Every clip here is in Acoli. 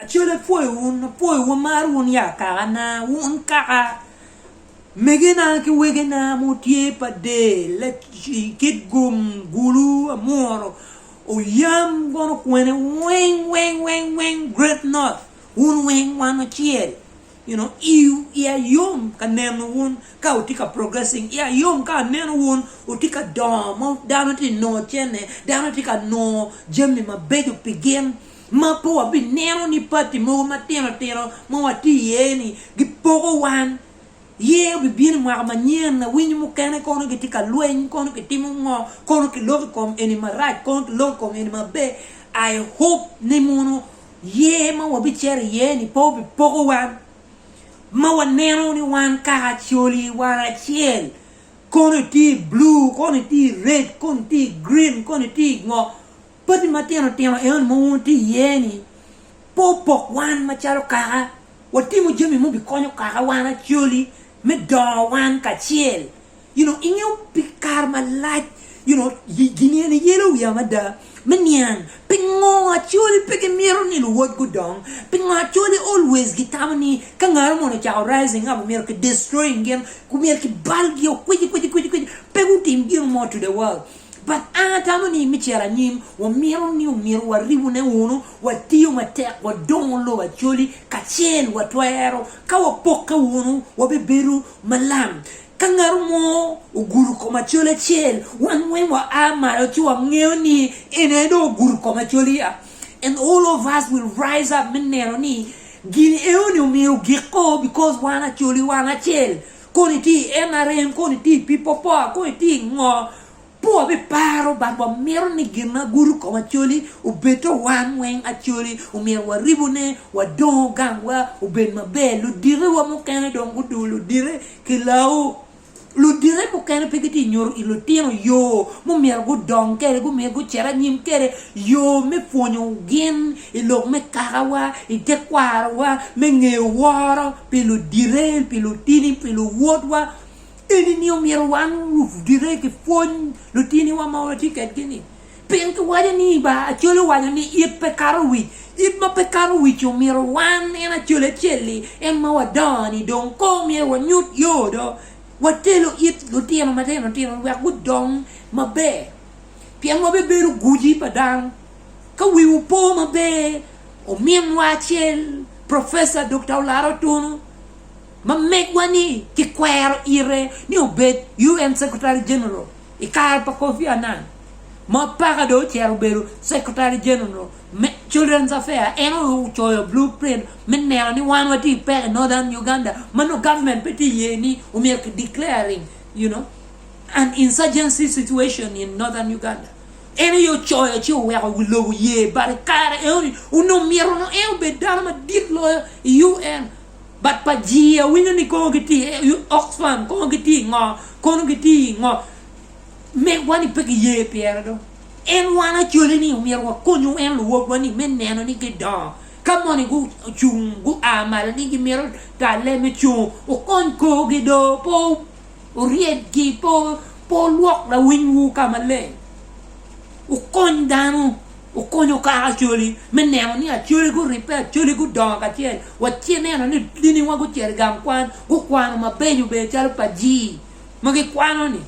Acel apwoyo wun, apwoyo wun, amaro wun ya kakana, wun kaka megena ki wegena ma wutye pa del, i kit gum, gulu, amuru, oyam, gono kwene, weng, weng, weng, weng, great north, wun weng wan wacel, you know, iya yom ka neno wun ka wutye ka progressing, iya yom ka aneno wun wutye ka dongo ma dano tye ka nongo cene, dano tye ka nongo jami mabeco pi gin. ma pe wabineno ni pati mogo matino tino ma watye iye ni gipoko wan ye obibino i mwaka manyen awinyo mukene kono gitye ka lweny kono kitimo ngo kono kiloko i kom eni marac kono kiloko i kom eni maber I hope ni mono year ma wabicito iye ni pe obipoko wan ma waneno ni wan kaka coli wan acel kono itye i blue kono itye i red kono itye i green kono itye i ngo Padi matino tino enoni ma watye iye-ni pe opok wan macalo kaka. Watimo jami ma obikonyo kaka wan acoli me dongo wan kacel. You know, ingeyo pi kare malac, you know, gin eni yelo wiya mada me niang pingo acoli pe gimito ni luwod gudong, pingo acoli always gitamo ni ka ngaro moni ocako rising up myero ki destroying gin, myero ki balgi o kwici kwici kwici kwici pe gutim gin mo to the world. But an atamo ni me cito anyim, wamito ni omyero waribune wunu, watiyo matek, wadongo lobo Acholi kacel, watwero, ka wapokke wunu, wabibedo malam. Ka ngatu mo ogudo kom Acholi acel, wan weng wa a malo ci wangeyo ni en aye dong ogudo kom Acholi a. And all of us will rise up me neno ni gin eo ni omyero ogik o because wan Acholi wan acel. koni tye i nrm koni tye i pipo power koni tye i ngo pur wa be paro but wa mito ni gin ma gudo kom acoli obed to wan weng acoli omyero wa ribu ne wa dongo gang wa obed ma ber luditi wa mukene dong gudu luditi ki lawu luditi mukene pe gitye nyuto i lutino yo mumyero gudong kede gumyero gucit anyim kede yo me pwonyo gin i lok me kakawa, i tekwarowa me ngeyo woro pi ludite, pi lutini, pi luwotwa. Eni ni omyero wan ludite ki pwony lutiniwa ma watye kedgi ni. Pien ki waco ni ba acoli owaco ni it pe kato wic, it ma pe kato wic ci omyero wan en acoli acel-li en ma wadongo ni dong ko myero wanyut yo do watelo it lutino matino tino wek gudong maber pien wabibedo guji pa dano. Ka wiwu po maber, ominwa acel, Professor Dokta Olaro Tunu, ma megwa-ni kikwero ite ni obed UN Secretary General i kare pa Kofi Annan, ma paka dong ocito obedo Secretary General me Children's Affairs, en aye ocoyo blueprint me neno ni wan watye ki peko i Northern Uganda ma nongo government pe tye ka ye ni omyero ki declaring, you know, an insurgency situation in Northern Uganda. En aye ocoyo ci oweko wi lobo ye but i kare enoni onongo myero nongo en obed dano madit loyo i UN but pa jii awinyo ni kono gitye i Oxfam kono gitye i ngo kono gitye i ngo megwa ni pe giye pire dong en wan acoli ni omyero wakony UN luwobwa ni me neno ni gidongo ka moni gucung gua malo ni gimito talle me cung okony korgi doo pe Wuryedgi pe wulwok lawinywu ka maleng. Wukony dano, wukuny wukato acoli me neno ni acoli guribbe, acoli gudongo kacel. Watye neno ni diniwa gucito i gang kwan, gukwano mabeco beco calo pajii ma gikwano-ni.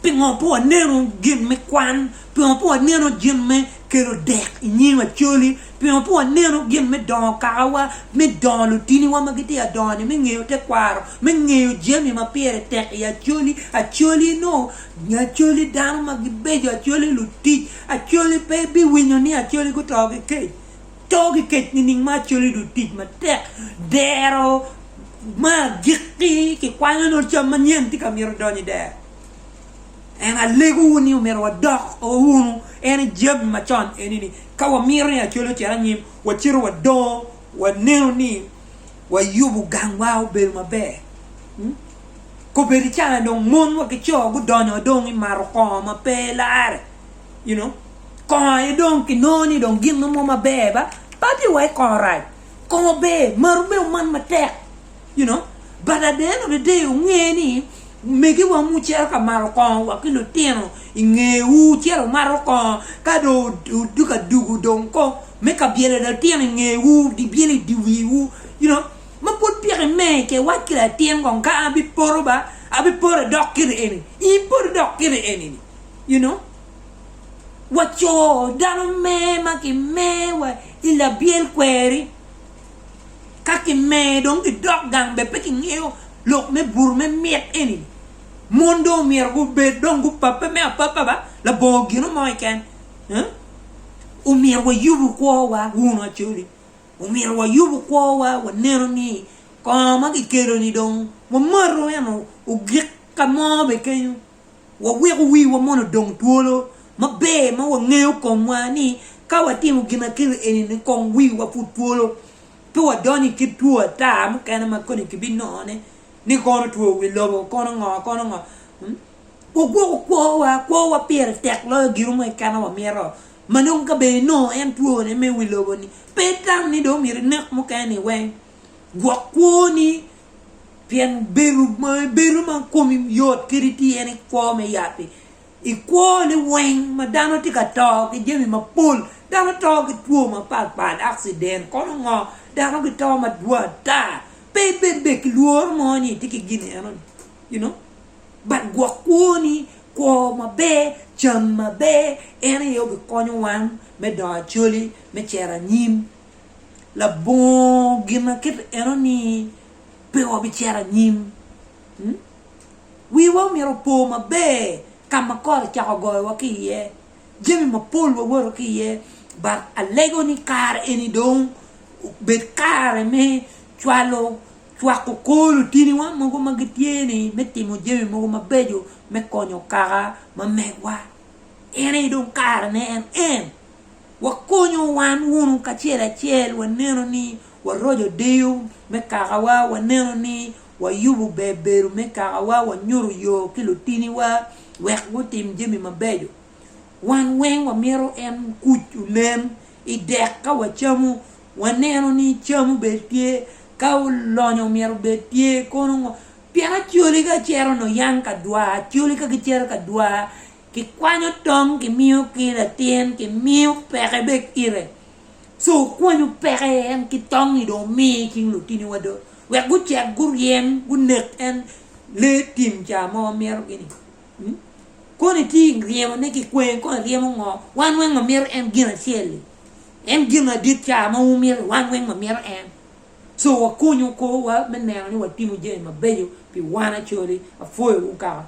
Pingo pe waneno gin me kwan? Pingo pe waneno gin me kelo dek i nyim Acholi? Pingo pe waneno gin me dongo kakawa, me dongo lutiniwa ma gitye ka dongo-ni, me ngeyo tekwaro, me ngeyo jami ma pire tek i Acholi? Acholi nongo, Acholi dano ma gibeco, Acholi lutic, Acholi pe ibiwinyo ni Acholi guto ki kec. To ki kec nining ma acoli dong tic matek dero me agikki? Kikwanyo ni cam manyen tye ka mito donyo i dero. Ento alegowu ni omyero wadok wunu en i jami macon eni ni ka wamito ni acoli ocit anyim, wacito wadongo waneno ni wayubo gangwa obedo maber. Kobedi ca dong mon wa ki co gudonyo dong i mato kongo ma pe lare. you know kongo aye dong kinongo ni dong gin mo maber ba padi wa i kongo rac kongo ber maru me oman matek you know but at the end of the day wunge ni megiwa ma wucito ka maro kongo wa ki lutino i ngewu cito wumato kongo ka dong odoko aduku dong ko me ka byelo litino i ngewu byelo i dye wiwu you know ma pud piki imer ki iwac ki latin kong ka an abipoto ba abipoto idok kiti eni in poti dok kiti eni-ni you know wa co dano mer ma ki mer wa i labyel kweri ka ki mer dong ki dok gang be pe ki ngeyo lok me bur me mit eni mon dong omyero gu bed dong gu pape me apapa ba labongo gino mo keken omyero wa yubu kwo wa wunu acoli omyero wa yubu kwo wa wa neno ni kongo ma ki kelo ni dong wa mato eno ogik ka mo be kenyo Waweko wiwa mono odong twolo maber ma wangeyo komwa ni ka watimo ginakiri eni-ni kong wiwa pud twolo, pe wadonyo i kit two ata mukene ma kodi kibinongone ni kono two wi lobo, kono ngo, kono ngo. Wagwoko kwowa, kwowa pire tek loyo gin mo keken wamito, ma nongo ka bene inongo en twone me wi lobo-ni, pe itam ni dong omyero inek mukene-ni weng. Gwok kwoni Pien bedo ma ibedo ma komi yot kadi tye en i kwo me yat-ti. I kwo liweng ma dano tye ka to ki jami mapol, dano to ki two mapat pat, accident kono ngo, dano gito madwor ata. Pe ibed bene ki lworo mo ni itye ki gin eno ni you know but gwok kwoni, kwo maber, cam maber en aye obikonyo wan me dongo acoli, me cito anyim labongo ginakite eno ni pe wabicito anyim. Hmm? Wiwa omyero opo maber ka ma kot ocako goyowa ki iye, jami mapol wawoto ki iye, but alego ni kare eni dong obed kare me cwalo cwako kor lutiniwa mogo ma gitye ni me timo jami mogo mabeco me konyo kaka ma megwa. En aye dong karene en en. wakonyo wan wunu kacel acel waneno ni waroco deyo me kakawa, waneno ni wayubo ber bedo me kakawa, wanyuto yo ki lutiniwa wek gutim jami mabeco. Wan weng wamito en kuc onen i dek ka wacamo, waneno ni cam obed tye, ka lonyo omyero obed tye kono ngo, pien acoli ka cito nio yang ka dwar, acoli ka gicito ka dwar. Kikwanyo tong kimiyo ki latin kimiyo peke be kite so okwanyo peke en ki tong ni dong omi cing lutini wa do wek gucek guryem gunek en lee tim ca mo mito gini mm koni tye ryemo ne ki kwanyo kong iryemo ngo wan weng wa mito en gin acel li en gin adit ca ma wu mito wan weng wa mito en so wa konyo kor wa me neno ni wa timo jami mabeco pi wan acoli apwoyo wu kaka